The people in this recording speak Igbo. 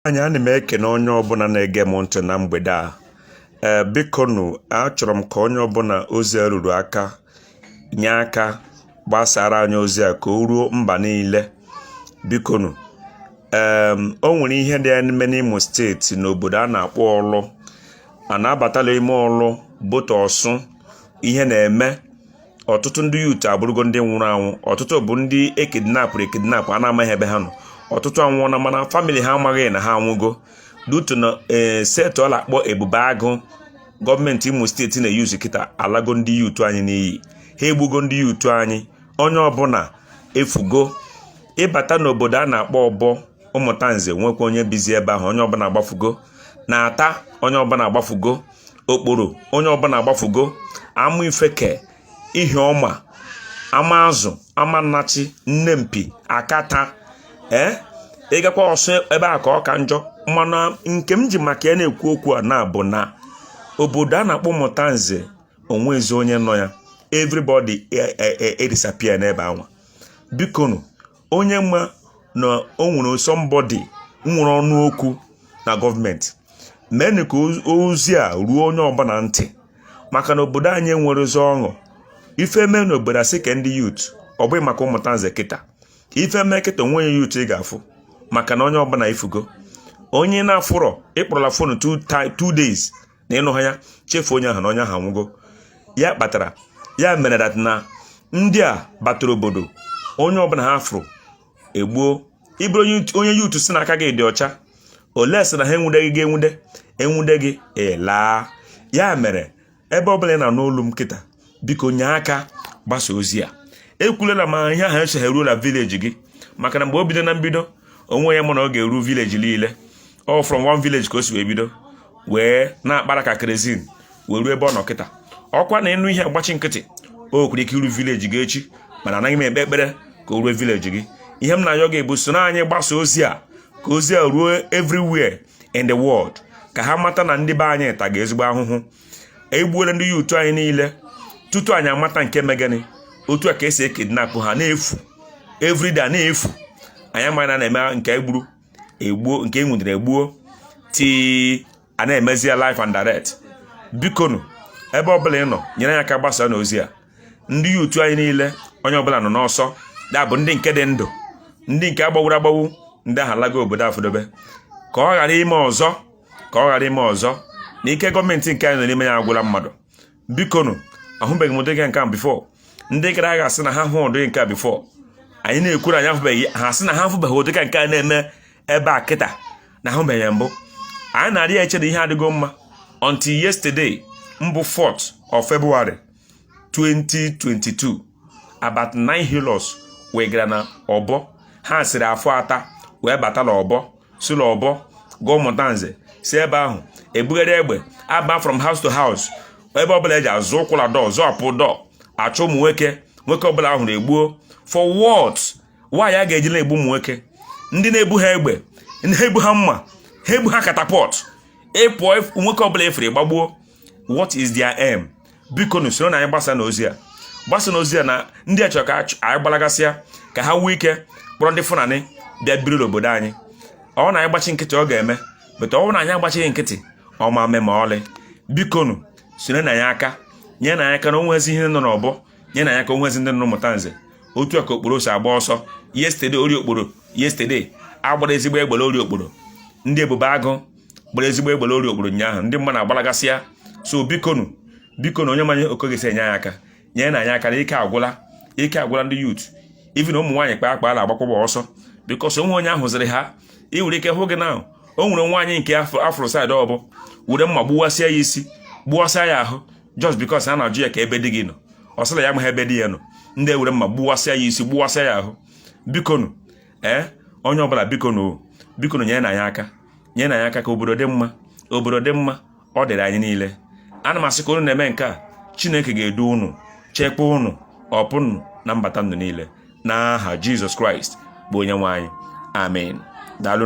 anyị ana m ekene onye ọbụla na-ege m ntị na mgbede a ee bikonu achọrọ m ka onye ọbụla ozi a ruru aka nye aka gbasara anyị ozi a ka o ruo mba niile bikonu ee o nwere ihe dị na-eme n'Imo steeti n'obodo a na-akpọ ọlụ a na-abatala ime ọlụ bata ọsụ ihe na-eme ọtụtụ ndị yut abụrụgo ndị nwụrụ anwụ ọtụtụ bụ ndị ekidnapụrụ ekidnapụ a na-amaghị ebe ha nọ ọtụtụ anwụọna mana famili ha amaghị na ha anwụgo due to na eh, setị a na-akpọ ebube agụ gọọmenti imo steeti na-eyuzu kịta alago ndị yut anyị n'iyi ha egbugo ndị yut anyị onye ọbụla efugo ị bata n'obodo a na-akpọ ọbọ ụmụtanze nwekwa onye bizi ebe ahụ onye ọbụla agbafugo n'ata onye ọbụla agbafugo okporo onye ọbụla agbafugo amaifeke ihiọma amazụ amannachi nnempi akata ee ị gakwa ọsụ ebe a ka ọ ka njọ mana nke m ji maka ya na-ekwu okwu a na-abụ na obodo a na-akpọ ụmụtanze o nwezi onye nọ ya everybody e, e, e, disappear n'ebe anwa bikonu onye ma na o nwere somebody nwere ọnụ okwu na gọọmenti meenụ ka ozi a ruo onye ọbụla ntị maka na obodo anyị enwerọzi ọṅụ ife mee na obodo a sị ka ndị yut ọ bụghị maka ụmụtanze kịta ife mee kịta o nwe onye yut ị ga-afụ maka na onye ọbụla efugo onye na-afụrọ ị kpọrọla fonu two days na ị nụha ya chefuo onye ahụ na onye ahụ anwụgo ya kpatara ya mere that na ndị a batara obodo onye ọbụla ha fụrụ e gbuo ị bụrụ onye yuutu sị na aka gị dị ọcha unless na ha enwudeghị gị enwude e nwude gị ị laa ya mere ebe ọbụla ị na-anụ olu m kịta biko nye aka gbasa ozi a ekwulela ma ihe ahụ esoghị eruola vileji gị maka na mgbe o bido na mbido o nwe onye ma na ọ ga-eru vileji niile ọ from one village ka o si wee bido wee na-akpara ka kerezin wee ruo ebe ọ nọ kịta ọ kwa na ị nụ ihe a gbachi nkịtị o nwere ike iru vileji gị echi mana anaghị m ekpe ekpere ka o ruo vileji gị ihe m na-ayọ gị bụ soro anyị gbasa ozi a ka ozi a ruo everywhere in the world ka ha mata na ndị be anyị taga ezigbo ahụhụ e gbuola ndị yuutu anyị niile tutu anyị amata nke megani otu a ka e si ekidnapụ ha na-efu everyday na-efu anyị amaghị na na-eme nke e gburu egbuo nke e nwudere e gbuo kịta a na-emezi ya live and direct bikonu ebe ọbụla ị nọ nyere anyị aka gbasanụ ozi a ndị yuutu anyị niile onye ọbụla nọ n'ọsọ ya bụ ndị nke dị ndụ ndị nke a gbawuru agbawu ndị ahụ alago obodo afọdobe ka ọ ghara ime ọzọ ka ọ ghara ime ọzọ na ike gọọmenti nke anyị nọ n'ime ya agwụla mmadụ bikonu ahụbeghị m ụdị nke a before ndị gara aga asị na ha hụ ụdị nke a before anyị na-ekwuru anyị ahụbeghị ha sị na ha ahụbeghị ụdị ka nke a na-eme ebe a kịta na ahụbeghị ya mbụ anyị na-arị ya eche na ihe adịgo mma until yesterday mbụ 4th of February 2022 about nine Hilux wee gara na Ọbọ ha siri Afọ Ata wee bata na Ọbọ si na Ọbọ gaa Ụmụtanze si ebe ahụ ebugharị egbe aba from house to house ebe ọbụla eji azụ ụkwụ na door zọpụ door achọ ụmụ nwoke nwoke ọbụla a hụrụ egbuo for what why a ga-eji na-egbu ụmụ nwoke ndị na-ebuha egbe ha ebuha mma ha ebuha catapult ị pụọ nwoke ọbụla ị fụrụ ị gbagbuo what is their aim bikonu soronụ anyị gbasanụ ozi a gbasanụ ozi a na ndị a chọrọ ka anyị gbalagasịa ka ha nwee ike kpọrọ ndị Fulani bịa biri n'obodo anyị ọ na anyị gbachi nkịtị ọ ga-eme but ọ na anyị agbachighị nkịtị ọ ma mme ma ọlị bikonu soronụ anyị aka nyenụ anyị aka na o nwezi ihe nọ n'Ọbọ nyenụ anyị aka o nwezi ndị nọ Ụmụtanze otu a ka Okporo si agba ọsọ yesterday Orie Okporo yesterday a gbara ezigbo egbe la Orie Okporo ndị Ebube Agụ gbara ezigbo egbe la Orie Okporo ụnyaahụ ndị mmadụ agbalagasịa so bikonu bikonu onye manụ ka ọ ga-esi enye anyị aka nyerenụ anyị aka na ike agwụla ike agwụla ndị youth even ụmụ nwaanyị kpaa akpa na-agbakwụgbọ ọsọ because o nwere onye ahụ ziri ha ị nwere ike hụ gị na o nwere nwaanyị nke a fụrụ side Ọbọ were mma gbuwasịa ya isi gbuwasịa ya ahụ just because a na-ajụ ya kee ebe di gị nọ ọ sị la ya amaghị ebe di ya nọ ndị ewere mma gbuwasịa ya isi gbuwasịa ya ahụ bikonu ee eh, onye ọbụla bikonu bikonu nyerenụ anyị aka nyenụ anyị aka ka obodo dị mma obodo dị mma ọ dịrị anyị niile ana m asị ka unu na-eme nke a chineke ga-edu unu chekwa unu ọpụpụ na mbata unu niile n'aha jizọs kraịst bụ onye nwe anyị amen daalụ